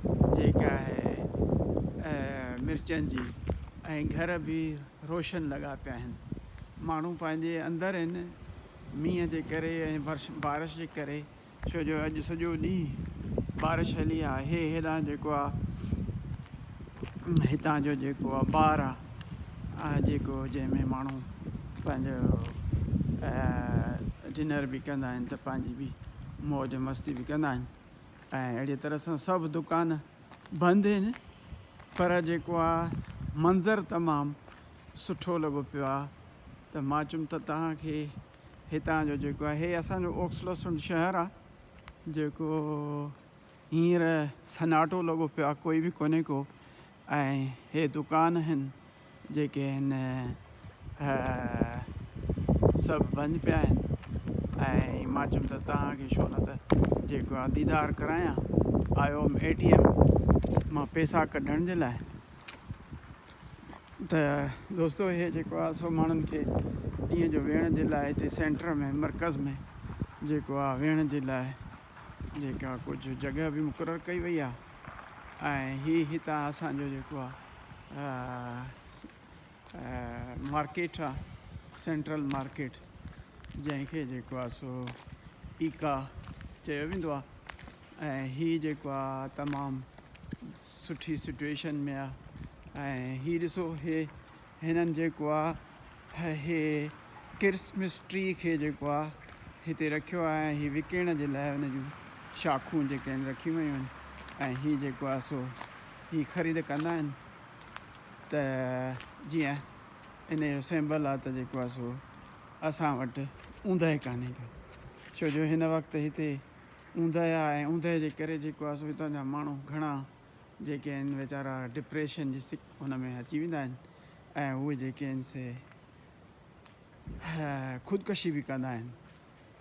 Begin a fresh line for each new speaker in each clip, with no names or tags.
جيڪي آهي مرچن جي ۽ گهر به روشن لڳا پيا آهن ماڻهو پنهنجي اندر آهن مينهن جي ڪري ۽ بارش جي ڪري ڇو جو اڄ سڄو ڏينهن بارش هلي آهي هي هيڏانهن جيڪو آهي هتان جو جيڪو آهي بار آهي جيڪو جنهن ۾ ماڻهو پنهنجو ڊنر به ڪندا آهن ته پنهنجي بي موج مستي به ڪندا آهن ۽ اهڙيء طرح سان سڀ دڪان بند هن پر جيڪو آ منظر تمام سٺو لڳو پيو آ ته مان چيم ته توهان کي هتان جو جيڪو آ هي اسان جو اوڪسلسنڊ شهر آ جيڪو هينئر سناٽو لڳو پيو آ ڪوئي به ڪونهي ڪو ۽ هي دڪان هن جيڪي هن سڀ بند پيا آهن ۽ مان چيم ته توهان کي شو نه ته جيڪو آ ديدار ڪرايان آيو هيم اي ٽي ايم مان پيسا ڪڍڻ جي لاء ته دوستو هي جيڪو آ سو ماڻهن کي ڏينهن جو ويهڻ جي لاء هتي سينٽر ۾ مرڪز ۾ جيڪو آ ويهڻ جي لاء جيڪا ڪجهه جڳهه به مقرر ڪئي وئي آهي ۽ هي هتان اسان جو جيڪو آهي مارڪيٽ آهي سينٽرل مارڪيٽ جنهن کي جيڪو آهي سو ايڪا چيو ويندو آهي ۽ هي جيڪو آهي تمام سٺي سچويشن ۾ آهي ۽ هي ڏسو هي هنن جيڪو آ هي ڪرسمس ٽري کي جيڪو آ هتي رکيو آ ۽ هي وڪيڻ جي لاء ان جون شاخون جيڪي آهن رکيون ويون آهن ۽ هي جيڪو آ سو هي خريد ڪندا آهن ته جيئن ان جو سيمبل آ ته جيڪو آ سو اسان وٽ اوندهه ڪانهي ڪا ڇو جو هن وقت هتي اوندهه آ ۽ اوندهه جي ڪري جيڪو آ سو هتان جا ماڻهو گهڻا جيڪي آهن ويچارا ڊپريشن جي سڪ هن ۾ اچي ويندا آهن ۽ اهي جيڪي آهن سي خودڪشي به ڪندا آهن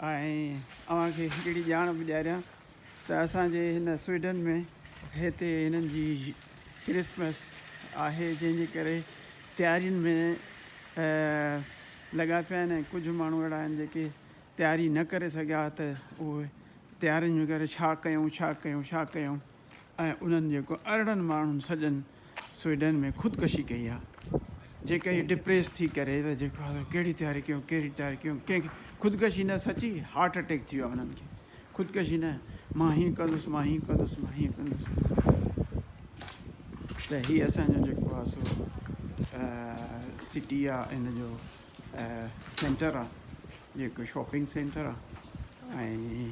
۽ اوهان کي هڪڙي ڄاڻ به ڏياريان ته اسانجي هن سوئيڊن ۾ هتي هنن جي ڪرسمس آهي جنهن جي ڪري تيارين ۾ لڳا پيا آهن ۽ ڪجهه ماڻهو اهڙا آهن جيڪي تياري نه ڪري سگهيا ته اهي تيارين ۾ ڪري ڇا ڪيون ڇا ڪيون ڇا ڪيون ۽ انهن جيڪو ارڙهن ماڻهن سڄن سوئيڊن ۾ خودڪشي ڪئي آ جي ڪئي ڊپريس ٿي ڪري ته جيڪو آ سو ڪهڙي تياري ڪيون ڪهڙي تياري ڪيون ڪنهن کي خودڪشي نه سچي هارٽ اٽيڪ ٿي ويو آ انهن کي خودڪشي نه مان هيئن ڪندس مان هيئن ڪندس مان هيئن ڪندس ته هي اسان جو جيڪو آ سو سٽي آ ان جو سينٽر آ جيڪو شاپنگ سينٽر آ ۽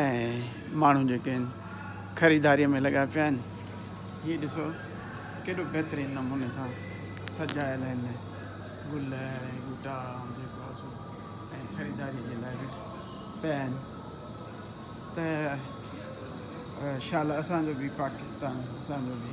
۽ ماڻهو جيڪي آهن خريداريء ۾ لڳا پيا آهن هي ڏسو ڪيڏو بهترين نموني سان سجايل آهن گل ۽ ٻوٽا جيڪو آهي سو ۽ خريداري جي لاء به پيا آهن ته شال اسان جو به پاڪستان اسان جو به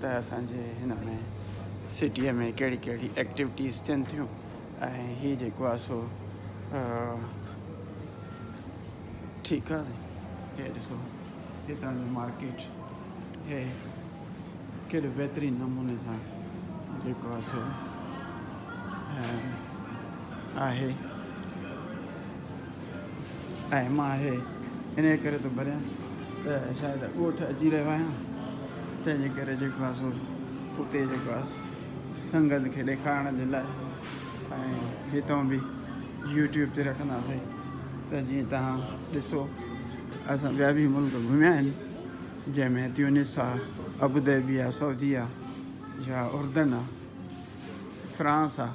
ته اسان جي هن ۾ سٽيء ۾ ڪهڙي ڪهڙي ايڪٽيوٽيز ٿين ٿيون ۽ هي جيڪو آهي سو ٺيڪ آهي هي ڏسو هتان جو مارڪيٽ هي ڪهڙي بهترين نموني سان جيڪو آهي سو آهي اهم آهي، انهيء ڪري ٿو ڀريان ته شايد ڳوٺ اچي رهيو آهيان، تنهنجي ڪري جيڪو آهي سو اتي جيڪو آهي سنگت کي ڏيکارڻ جي لاء ۽ هتان به يوٽيوب تي رکنداسين ته جيئن توهان ڏسو. اسان ٻيا به ملڪ گهميا آهن، جنهن ۾ تيونس آهي، ابوظهبي آهي، سعودي آهي يا اردن آهي، فرانس آهي.